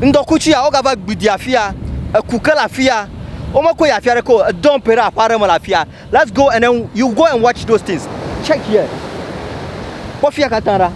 Ŋdɔkutsu ya, wogava gbui di afia, eku ke le afia, womekɔe yi afi aɖeke o, edɔ ƒoe ɖe aƒe aɖe me le afia. Let's go and then you go and watch those things. Check here. Kpɔ fia katã ɖa.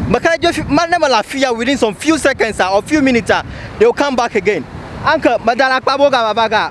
Meka ɖe dzi be ne mele afia within some few seconds or few minutes, they will come back again. Anke, medalakpa be wogava va ga.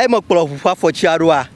Eye mekplɔ ʋu ƒe afɔtiaɖoa?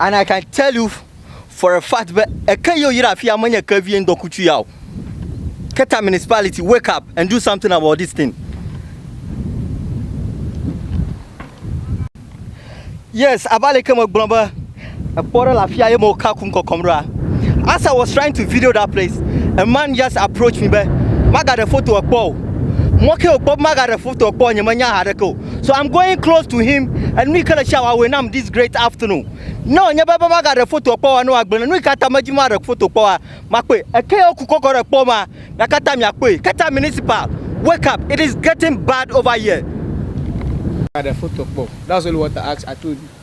And I can tell you for a fact be eke yio yra afia menye ke vie ŋdɔkutsu ya o. Keta municipality wake up and do something about this thing. Yes, abale ke megblɔ be ekpɔ ɖe le afia ye me woka kum kɔkɔm ɖoa. As I was trying to video that place, a man just approached me be magaɖe foto ekpɔ o. Mɔ ke wòkpɔ be magaɖe foto ekpɔ nye menya ha ɖeke o. So I'm going close to him and nu yi ke le tsi awɔe nam this great afternoon. Ne wònye be be magaɖe fotoa kpɔ wa ne woagblẽ ne nu yi ke ta medzi maɖe foto kpɔ wa makpɔe. Eke ya woku kɔkɔ ɖe kpɔ ma mia katã miakpɔe. Keta municipal wake up it is getting bad over here. Gaɖe foto kpɔ o. That's only what I ask I told you.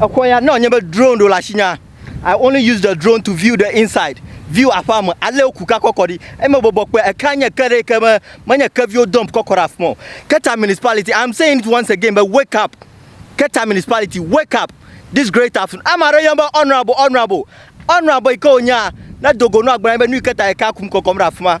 Exɔ ya, ne wònye be drone ɖo le asinyea, I only use the drone to view the inside, view aƒea me, ale woku ka kɔ kɔ ɖi. Eyi mebɔbɔ kpɔe, ekea nye ke ɖe yi ke me, menye kevi wodump kɔ kɔ ɖe afima o. Keta Municipality, I am saying it once again be wake up, Keta Municipality, wake up this great afternoon. Ame aɖe yɔm be honourable, honourable, honourable yi ke wònyea, nedo go na wò agblɔ na ye be nu yi Keta ekea kum kɔkɔm ɖe afima.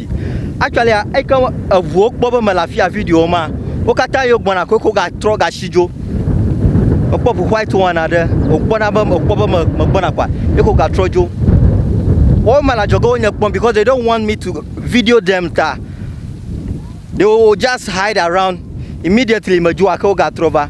actually eyi ke eŋuwo kpɔ be mele afia video ma wo katã yewo gbɔna koe ko gatrɔ gasi dzo ekpɔ ʋu white one aɖe wòkpɔna be ekpɔ be megbɔna kɔa ye ko gatrɔ dzo wɔwo mele adzɔge wo nye kpɔm because they don't want me to video them ta they will just hide around immediately medzo gake wo gatrɔ va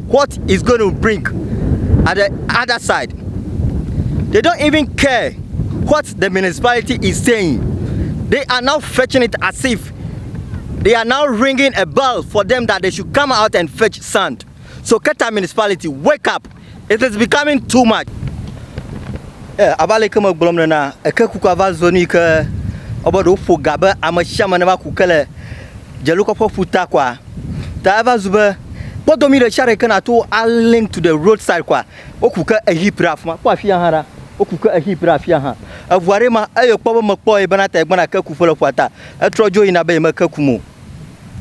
what is going to bring at the other side. They don't even care what the municipality is saying. They are now fetching it as if they are now ringing a bell for them that they should come out and fetch sand. So Keta municipality, wake up. It is becoming too much. Eh, abale ke me gblɔm ne na eke kuku ava zɔ nui ke ɔbɔ ɖo ƒo ga be ame sia ame ne va ku ke le Dzelokɔƒe ƒuta kɔa, ta eva zu be kpɔdomi ɖe sia ɖe ke nàto alink to the road side kɔa, woku ke ehip ɖe afi ma. Kpɔ afia hã ɖa, woku ke ehip ɖe afia hã. Eŋu aɖee ma eye wòkpɔ be mekpɔ ye bena ta yegbana ke kum ƒe le ƒua ta. Etrɔ dzo yina be yemeke kum o.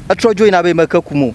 Etrɔ dzo yina be yemeke kum o.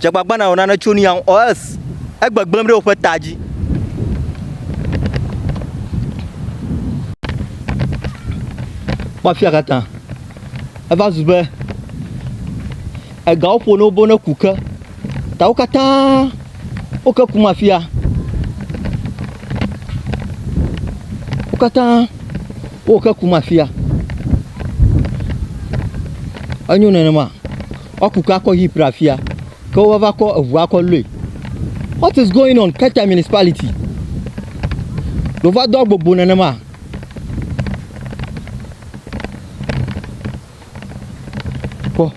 Dzagbagbana wɔ nane tso nu ya ŋu. Ɔs, egbegblẽm ɖe woƒe ta dzi. Kpɔ afia katã. Eva zu be egawo ƒo ne wo be woneku ke. Ta wo katã wo ke kum afia. Wo katã wo ke kum afia. Enyo nenema. Woaku ke akɔ yi pra fia ke wo va va kɔ eʋu akɔ loe. What is going on Keta municipality? Ɖo va do agbogbo nenema. Kpɔ.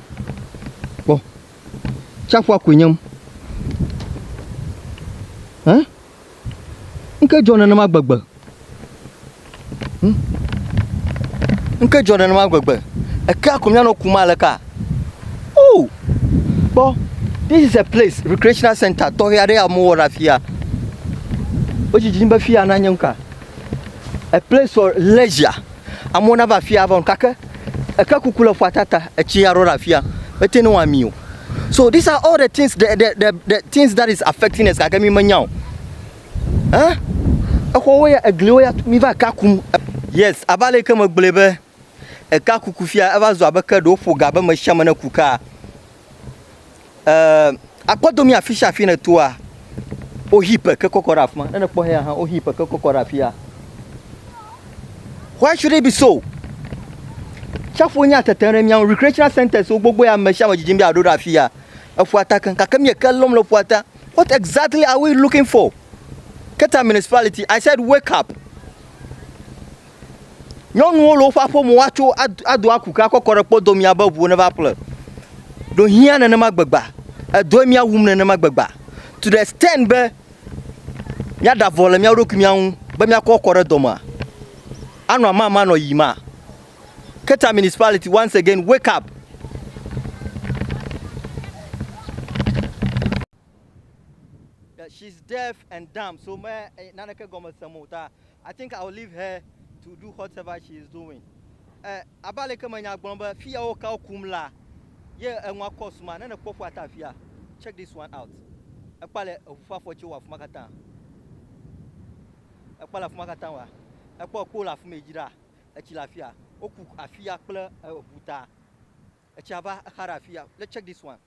Kpɔ. Tsaƒua koe nyem. Hein? Ŋke dzɔ nenema gbegbe. Ŋke dzɔ nenema gbegbe. Ekea ko mìanɔ kum aleka? Oo! Kpɔ, this is a place, recreational center tɔxɛ aɖe ya womewɔ ɖe afi ya. Wodzi dzi be fi ya nanye nuka? A place for leisure. Amewo nava afia ava gake eke kuku le ƒua tata etsi aɖewo ɖe afia mete ne wami o. So these are all the things the the the the things that is affecting us gake mi menya o. Eh? Exɔwo ya egliwo ya mi va ka kum. Yes, abe ale ke megblɔe be eka kuku fia eva zu abe ke ɖe woƒo ga be me sia me ne ku kaa. Eee akpɔdo mi afisia afi ne toa wo hi peke kɔkɔ ɖe afima ne ne kpɔ hea hã wo hi peke kɔkɔ ɖe afia why should it be so tsaƒo nya tete ɖe miawo recreational centers wo gbogbo ya ame sia ame dzidzim be aɖo ɖe afia eƒua ta keŋ gake mi eke lɔm le ƒua ta what exactly are we looking for keta municipality i said wake up Nyɔnuwo le woƒe aƒe me woatso ado aku ke akɔ kɔ ɖe kpɔdo mía be ŋuwo neva ƒle. Ɖo hiã nenema gbegba. Edɔe mía wum nenema gbegba. To the extent be mía ɖe avɔ le mía ɖokui mía ŋu be mía kɔ kɔ ɖe dɔ mea, anɔ amama nɔ yi ma. Keta municipality once again wake up. That she's deaf and dumb so me naneke gɔme sem o ta I think I will leave her to do whatever she is doing. Eh, abe aleke me nya gblɔm be fiya wo kawo kum la ye enua kɔ suma ne nekpɔ ƒua ta afia. Check this one out. Ekpa le eŋu ƒe afɔti wo afuma katã. Ekpa le afuma katã wa. Ekpɔ ekpo le afumɛ dzra. Etsi le afia. Woku afia kple eŋu ta. Etsia va exa ɖe afia. Let's check this one.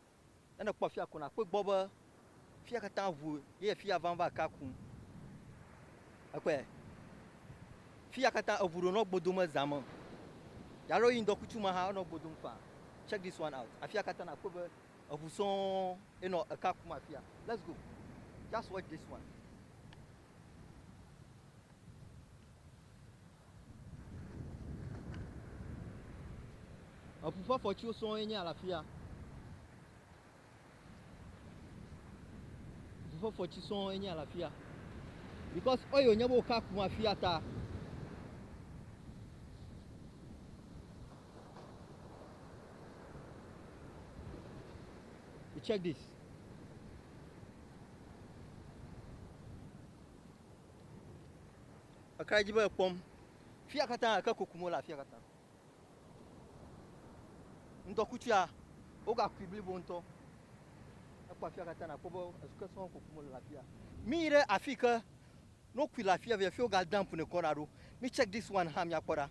Ne nèkpɔ afia ko nàkpɔe gbɔ be fia katã ʋu ye fia vam va ka ku. Ekpɔe? Fia katã eʋu ɖo nɔ gbo dom ezã me. Yalo yi ŋdɔkutsu ma hã enɔ gbo dom faa. Check this one out. Afia katã nàkpɔe be eʋu sɔŋ ye nɔ eka kum afia. Let's go. Just watch this one. Eŋu ƒe afɔtiwo sɔŋ ye nye ya le afi ya. Eŋu ƒe afɔti sɔŋ ye nye ya le afi ya. Because oil wònye be wòka kum afi ya ta. You check this. Ekra edzi be ekpɔm. Fia katã eke kukum wole afia katã. Ŋdɔkutsuea, wogakui blibo ŋutɔ. Ekpɔ afia katã nàkpɔ be ezu ke sɔŋ kukum wole le afia. Míyi ɖe afi yi ke ne wokui le afia via fi woga dump nɛ kɔ ɖa ɖo. Mí check this one hã míakpɔ ɖa.